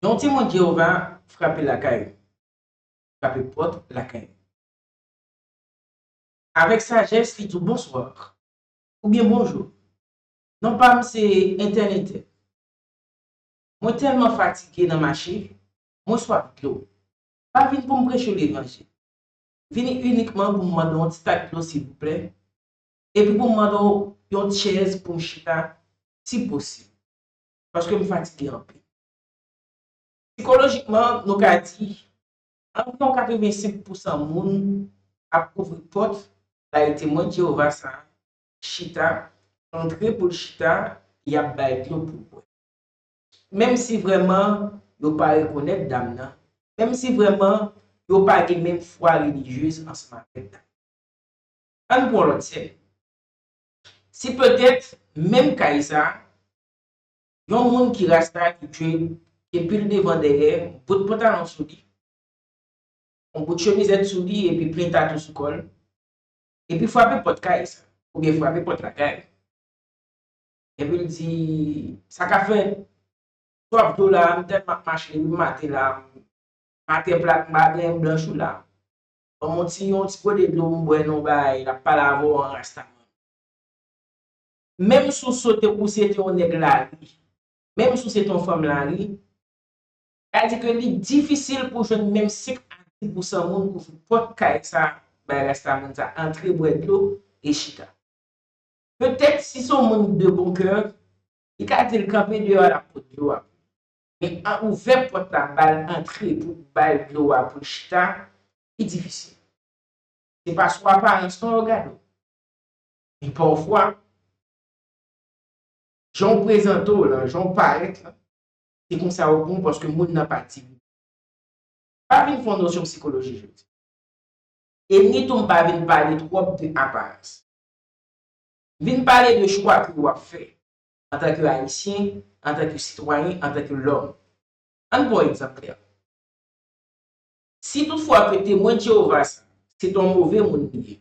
Yon Temwen Jewova frape lakay ou, frape pòt lakay ou. Avèk sajès, li di w bonswa oubyen bonjou. Non pa m se entènetè. Mwen tèlman fatige nan mache, mwen swaf dlo. M pa vin pou m preche w levanjil. M vini inikman pou m mande w yon ti tak dlo silvouplè, epi pou m mande w yon chèz pou m chita, si posib. paske m fatige anpil. Sikolojikman, nou ka di, anviwon 85 pousan moun ap ouvri pòt bay Temwen Jewova sa a chita, antre pou l chita, y ap bay dlo pou l bwè. Menmsi vrèman yo pa rekonèt dam nan, menmsi vrèman yo pa gen menm fwa relijyez ansanm avèk dam nan. Ann pran lòt sèn. Si petèt, menm kay sa a, Yon moun ki rasta ki dwe gen pil devan dèyè, bout pantalon sou li, yon bout chemizèt sou li epi plen tatou sou kò l, epi frape pòt kay sa oubyen frape pòt lakay la. Epi l di, Sa ka fè twòp jou la a m tèlman ap mache epi m mate la a, m mate plak m pa gen blanch ou la a. Ban m yon ti gode dlo m bwè non bagay, l ap pale avè w an rasta. Menm si w sote ou se te yon nèg lari, menm si w se te yon fanm lari, sa di ke li difisil pou jwenn menm sik a di pousan moun ouvri pòt kay sa a bay rasta moun sa a antre bwè dlo e chita. Petèt si se yon moun de bon kè, li ka di l kanpe deyò a l ap pot dlo a pou li. Men an ouvè pòt la ba l antre pou ba l dlo a pou l chita, li difisil. Se pa sou aparans non yo gade w. E pafwa, jan w prezante w lan, jan w parèt lan, se konsa ou bon paske moun nan pa timidik. M pa vin fè yon nosyon psikoloji jodi a. E ni tou m pa vin pale twòp de aparans. M vin pale de chwa ke ou ap fè antanke Ayisyen, antanke sitwayen, antanke lòm. Ann pran yon egzanp klè. Si tout fwa ke Temwen de Jewova sa a, se te yon move moun li ye,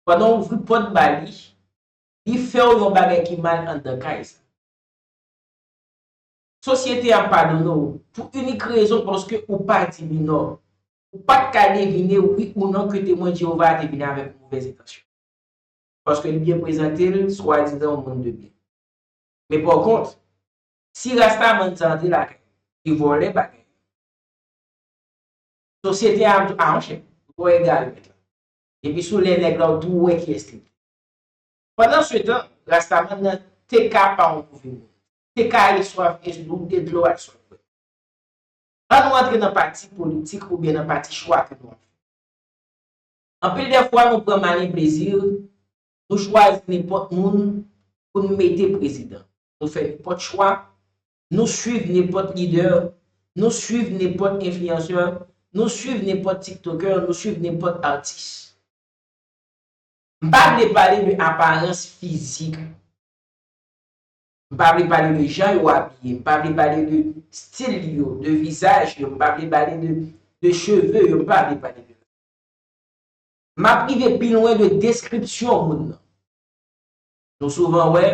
Pandan w ouvri pòt ba li, li fè w yon bagay ki mal anndan kay sa. Sosyete a padone w pou inik rezon paske ou pa di li non. Ou pa t ka devine wi ou non ke Temwen Jewova a te vin avèk movèz entansyon, paske li te prezante l swadizan yon moun de byen. Men pòkont, si rastaman sa a antre lakay ou, li vòlè bagay yo, sosyete a ap di w, A monchè, ou twò egare mèt la. Depi sou lè nèg la ou tou wè kiyès li te. Pandan se tan, rastaman nan te ka pa yon move moun. Te ka ale swaf e sou e dlo ak swaf bwè. An nou antre nan pati politik oubyen nan pati chwa ke nou ap fè. Anpil dè fwa nou pran mani plezi, nou chwazi nenpòt moun pou nou mete prezidan. Nou fè nenpòt chwa Nou swiv nepòt lidè, nou swiv nepòt enfliyansè, nou swiv nepòt tiktokè, nou swiv nepòt atis. M pa vle pale de aparans fizik. M pa vle pale de jan yo abiye, m pa vle pale de stil yo, de vizaj yo, m pa vle pale de cheve yo, m pa vle pale de sa. M ap rive pi lwen de deskripsyon moun nan. Nou souvan wè,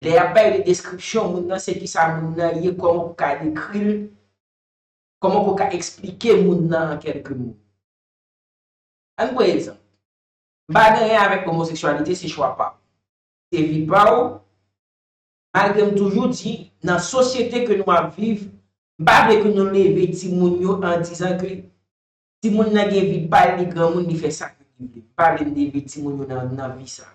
lè y ap bay de deskripsyon moun nan se kisa moun nan ye, kòman pou ka dekri l, kòman pou ka esplike moun nan an kèlke mo. An n pran egzanp, M pa gen anyen avèk omoseksyalite, se chwa pa w. Se vi pa w, malgre m toujou di, nan sosyete ke nou ap viv, m pa vle ke nou leve timoun yo an dizan ke timoun nan gen vi pa l, li granmoun, li fè sa ke li vle. M pa vle m leve timoun yo nan vi sa.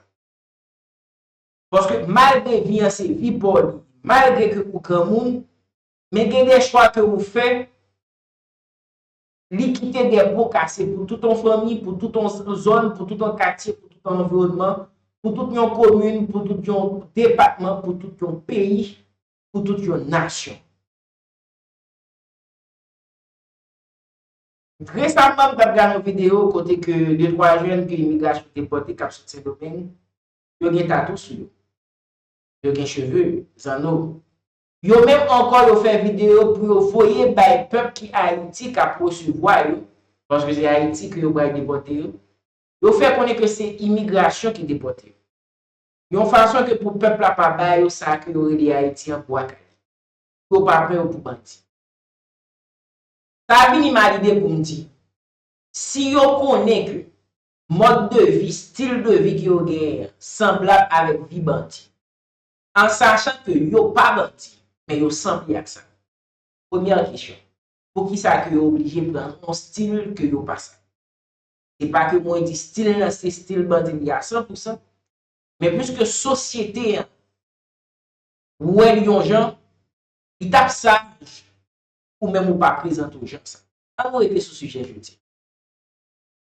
Paske malgre vi an se vi paw li ye, malgre ke ou granmoun, men gen de chwa ke ou fè, li kite de po kase pou tout yon fanmi, pou tout yon zòn, pou tout yon katye, pou tout yon anviwònman, pou tout yon komin, pou tout yon depatman, pou tout yon peyi, pou tout yon nasyon. Resamman m t ap gade yon videyo kote ke de twa jèn ke imigrasyon depòte k ap sot Sendomeng, yo gen tatou sou yo. Yo gen cheve, zanno. Yo menm ankò yo fè videyo pou yo voye bay pèp ki Ayiti k ap resevwa yo, paske se Ayiti ke yo pral depòte yo, yo fè konnen ke se imigrasyon ki depòte yo. Yon fason ke pou pèp la pa ba yo sa ke yo rele Ayiti an bwa kale. Pou yo pa pran yo pou bandi. Pa vini mal ide pou m di. Si yo konnen ke mòd de vi, stil de vi ke yo genyen an sanblab avèk vi bandi, an sachan ke yo pa bandi, men yo sanble ak sa. Premyè kesyon, poukisa ke yo oblije pran yon stil ke yo pa sa? Se pa ke mwen di stil la se stil bandi li a san pou san, men pwiske sosyete an wè li yon jan, li t ap saj ou menm ou pa prezante w jan sa. An nou rete sou sijè jodi a.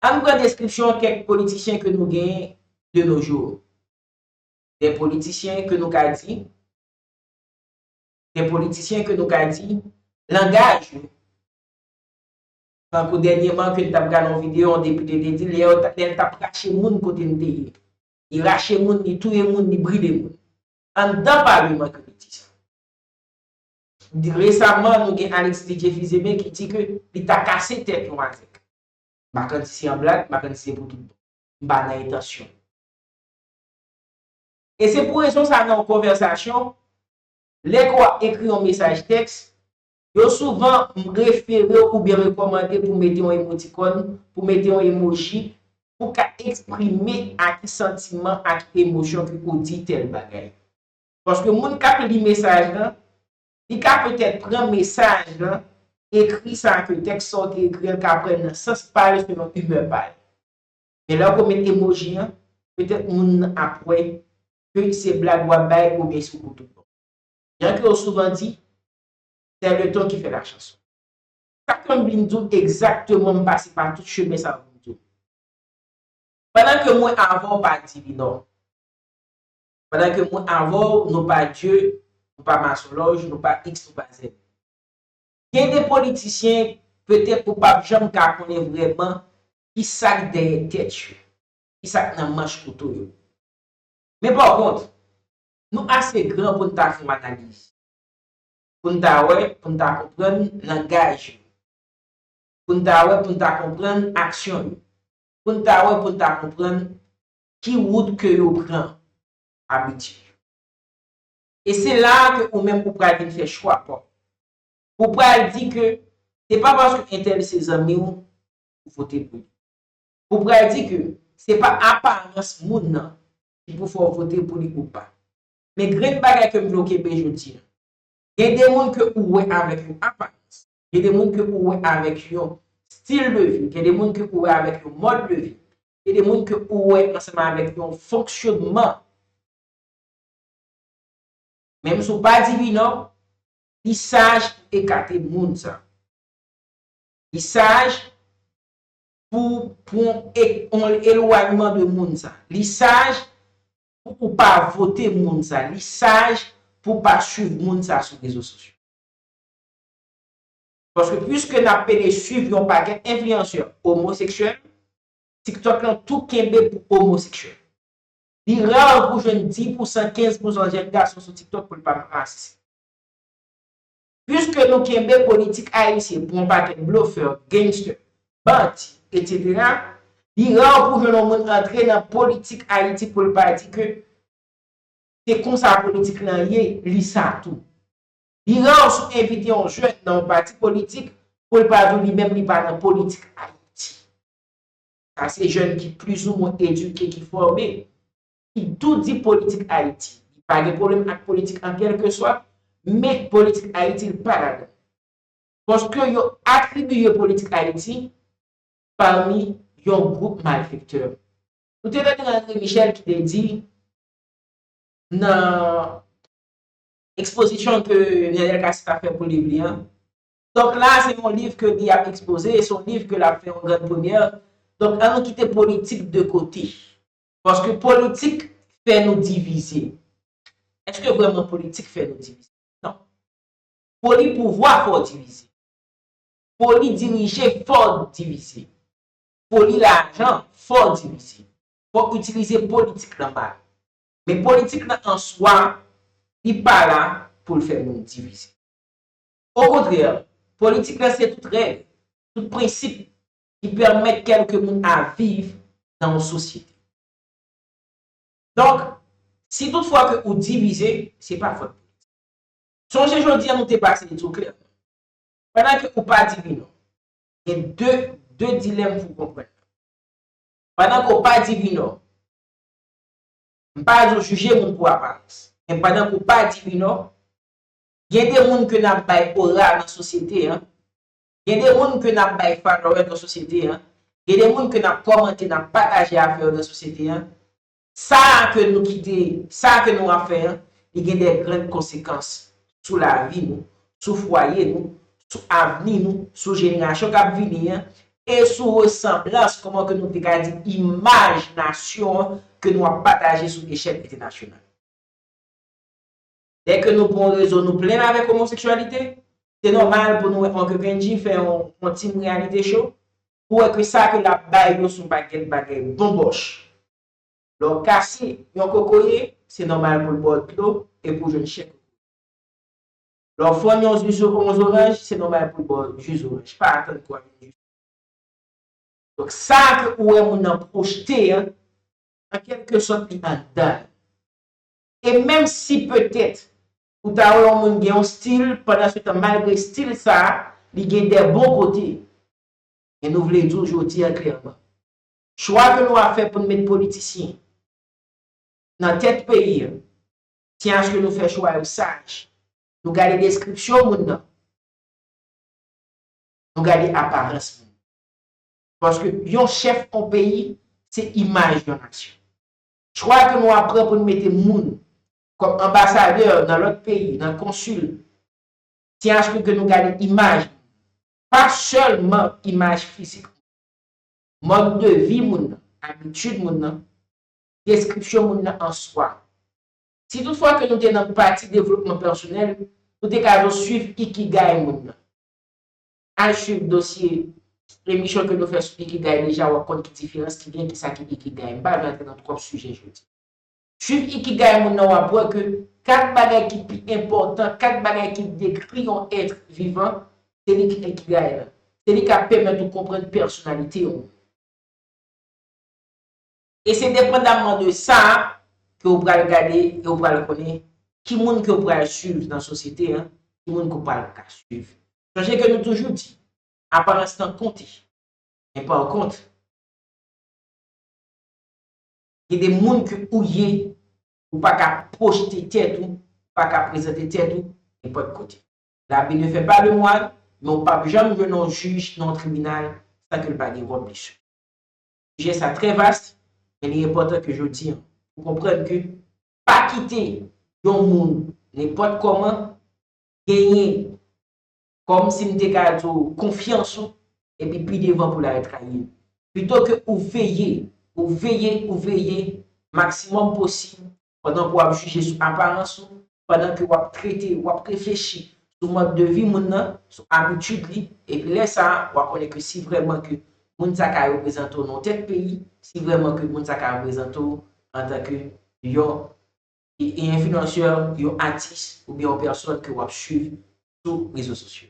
An nou pran deskripsyon kèk politisyen ke nou gen de nos jours. Des politiciens que nou ka di, des politiciens que nou ka di, langaj yo, tankou dènyeman ke n t ap gade yon videyo yon depite te di lè l t ap rache moun kote m te ye. Li rache moun, li touye moun, li brile moun. Anndan palman ke li di sa. Resaman nou gen Alexis Didier Fils-Aimé ki di ke li ta kase tèt yon Azèk. Mackendy si an blag, Mackendy se pou tout bon. M pa nan entansyon. E se pou rezon sa nan yon konvèsasyon, lè ke w ap ekri yon mesaj tèks, yo souvan refere w oubyen rekòmande pou mete yon emotikòn, pou mete yon emoji, pou ka eksprime a ki santiman, a ki emosyon ke ou di tèl bagay. Paske moun k ap li mesaj la, li ka petèt pran mesaj la, ekri sa ke tèks sa w te ekri an ka pran nan sans pa l selon imè pa l. Men lè w ko met emoji an, petèt moun nan ap wè ke se blag w ap bay oubyen se w pou tout bon. Jan ke yo souvan di, sè le ton ki fè la chanson. Sa ke m vin di w egzakteman m pase pa tout chemen sa yo pou m di w. Pandan ke mwen avè w pa di li non. Pandan ke mwen avè'w, nou pa Dye, nou pa masonlòj, nou pa X, nou pa Z. Gen de politisyen, petèt ou pap janm ka konnen vrèman ki sak dèyè tèt yo, ki sak nan manch kouto yo. Men pa kont, nou ase gran pou'n ta fè yon analiz, pou'n ta wè, pou'n ta konprann langaj yo, pou'n ta wè, pou'n ta konprann aksyon yo, pou'n ta wè, pou'n ta konprann Ki wout ke yo pran? Abitid yo. E se la a ke ou menm ou pral vin fè chwa pa w. Ou pral di ke se pa paske entèl se zanmi w ou vote pou li. Ou pral di ke se pa aparans moun nan ki pou fè w vote pou li ou pa. Men grenn bagay ke m vle w kenbe jodi a. Gen de moun ke ou wè avèk yon aparans. Gen de moun ke ou wè avèk yon stil de vi. Gen de moun ke ou wè avèk yon mòd de vi. E de moun ke ou wè ansanm avèk yon fonksyonman. Menm si w pa di wi non, li saj pou w ekate moun sa. Li saj pou w pran yon elwanyman de moun sa. Li saj pou ou pa vote moun sa. Li saj pou w pa swiv moun sa sou rezo sosyo. Paske pwiske n ap pede swiv yon pakèt enfliyansè omoseksyèl, TikTok lan tou kenbe pou omoseksyèl. Li ra pou w jwenn 10 pousan, 15 pousan jèn gason sou TikTok pou l pa rasist. Pwiske nou kenbe politik ayisyen pou yon pakèt blofè, gangster, bandi, etc. Li ra pou w jwenn yon moun antre nan politik Ayiti pou l pa di ke se konsa politik lan ye, li sa tou. Iran ou sou envite yon jèn nan yon pati politik pou l pa di w li menm li pa nan politik Ayiti. Sa se jèn ki plizoumwen edike, ki fòme, ki tou di politik Ayiti. Li pa gen pwoblèm ak politik an kèlkeswa, men politik Ayiti l pa ladan. Paske yo atribiye politik Ayiti pami yon gwoup malfektè. Nou te tande André Michel ki te di nan. Ekspozisyon ke Nènèl Kasi t ap fè pou liv li an. Donk la a se yon liv ke li ap ekspoze, se yon liv ke l ap fè yon gran premyè. Donk an nou kite politik de kote. Paske politik fè nou divize. Eske vrèman politik fè nou divize? Non. Foli pouvwa fè w divize. Foli dirije fè w divize. Foli lajan fè w divize. Fò w itilize politik nan mal. Men politik nan an swa, li pa la pou l fè moun divize. Okontrè, politik la se tout règ, tout prensip ki pèmèt kèlke moun a viv nan yon sosyete. Donk, si tout fwa ke ou divize, se pa fòt politik. Sonje jodi an nou te pase li tou klè. Pandan ke ou pa di wi non, gen de, de dilèm pou w konprann. Pandan ke w pa di wi non, M pa di w jije moun pou aparans. Men pandan ke w pa di wi non, gen de moun ke n ap bay ora nan sosyete an, gen de moun ke n ap bay followers nan sosyete an, gen de moun ke n ap kòmante, n ap pataje afè yo nan sosyete an, sa a ke nou kite, sa a ke nou ap fè an, li gen de grann konsekans sou lavi nou, sou fwaye nou, sou avni nou, sou jenerasyon k ap vini an e sou resanblans, kòman ke nou te ka di imaj nasyon an ke nou ap pataje sou echèl entènasyonal. Dè ke nou pou yon rezon nou plenn avèk omoseksyalite, se nòmal pou nou wè Oncle Benji fè yon team reyalite show pou wè ke sa ke l ap bay yo s on pakèt bagay bonbòch. Lè w kase yon kokoye, se nòmal pou l ba w dlo e pou w jwenn chè kokoye. Lè w fonn yon zuzu ou yon zoranj, se nòmal pou l ba w ji zoranj. Pa atann pou w al jwenn ji zoranj. Donk, sa ke ou wè moun nan pwojte an, an kèlke sòt li anndan l. E menm si petèt ou ta wè yon moun gen yon stil, pandan se tan malgre stil sa a, li gen de bon kote. Men nou vle di w jodi an klèman, Chwa ke nou ap fè pou n met politisyen nan tèt peyi an, se aske nou fè chwa yo saj. Nou gade deskripsyon moun nan. Nou gade aparans moun nan. Paske yon chèf yon peyi, se imaj yon nasyon. Chwa ke nou ap pran pou n mete moun kòm anbasadè nan lòt peyi, nan konsil, se aske ke nou gade imaj moun nan. Pa sèlman imaj fizik moun nan. Mòd de vi moun nan, abitid moun nan, deskripsyon moun nan an swa. Si tout fwa ke nou te nan pati devlopman pèsonèl, nou te ka jous swiv Ikigai moun nan. Al swiv dosye emisyon ke nou fè sou Ikigai deja wap konn ki diferans ki gen, kisa ki Ikigai. M pa vle antre nan twòp sijè jodi. Suiv Ikigai moun nan wap wè ke 4 bagay ki pi enpòtan, 4 bagay ki dekri yon être vivant, se li ki Ikigai la. Se li kap pèmèt ou konprann pèsonalite yon moun. E se depandamman de sa ke ou pral gade e ou pral konnen ki moun ke ou pral suiv nan sosyete an, ki moun ke ou pral ka suiv. Sonje ke nou toujou di, aparans nan konte, men pa w kont. Gen de moun ke ou ye, ou pa ka pwojte tèt ou, ou pa ka prezante tèt ou nenpòt kote. La vie ne fait pas de moine, men ou pap janm jwenn yon jij nan yon tribinal san ke l pa gen vòt li sou li. Sijè sa trè vast, men li enpòtan ke jodi an, ou konprann ke pa kite yon moun nenpòt kòman genyen Kòm si m te ka di w konfyans ou epi pi devan pou lari trayi l. Pito ke ou veye, ou veye, ou veye maksimòm posib pandan ke w ap jije sou aparans ou, pandan ke w ap trete, w ap reflechi sou mòd de vi moun nan, sou abitid li, epi lè sa a, w a konnen ke si vrèman ke moun sa ka reprezante w nan yon tèt peyi, si vrèman ke moun sa ka reprezante w antanke yon Yon enfliyansè, yon atis oubyen yon pèsòn ke wap swiv sou rezo sosyo.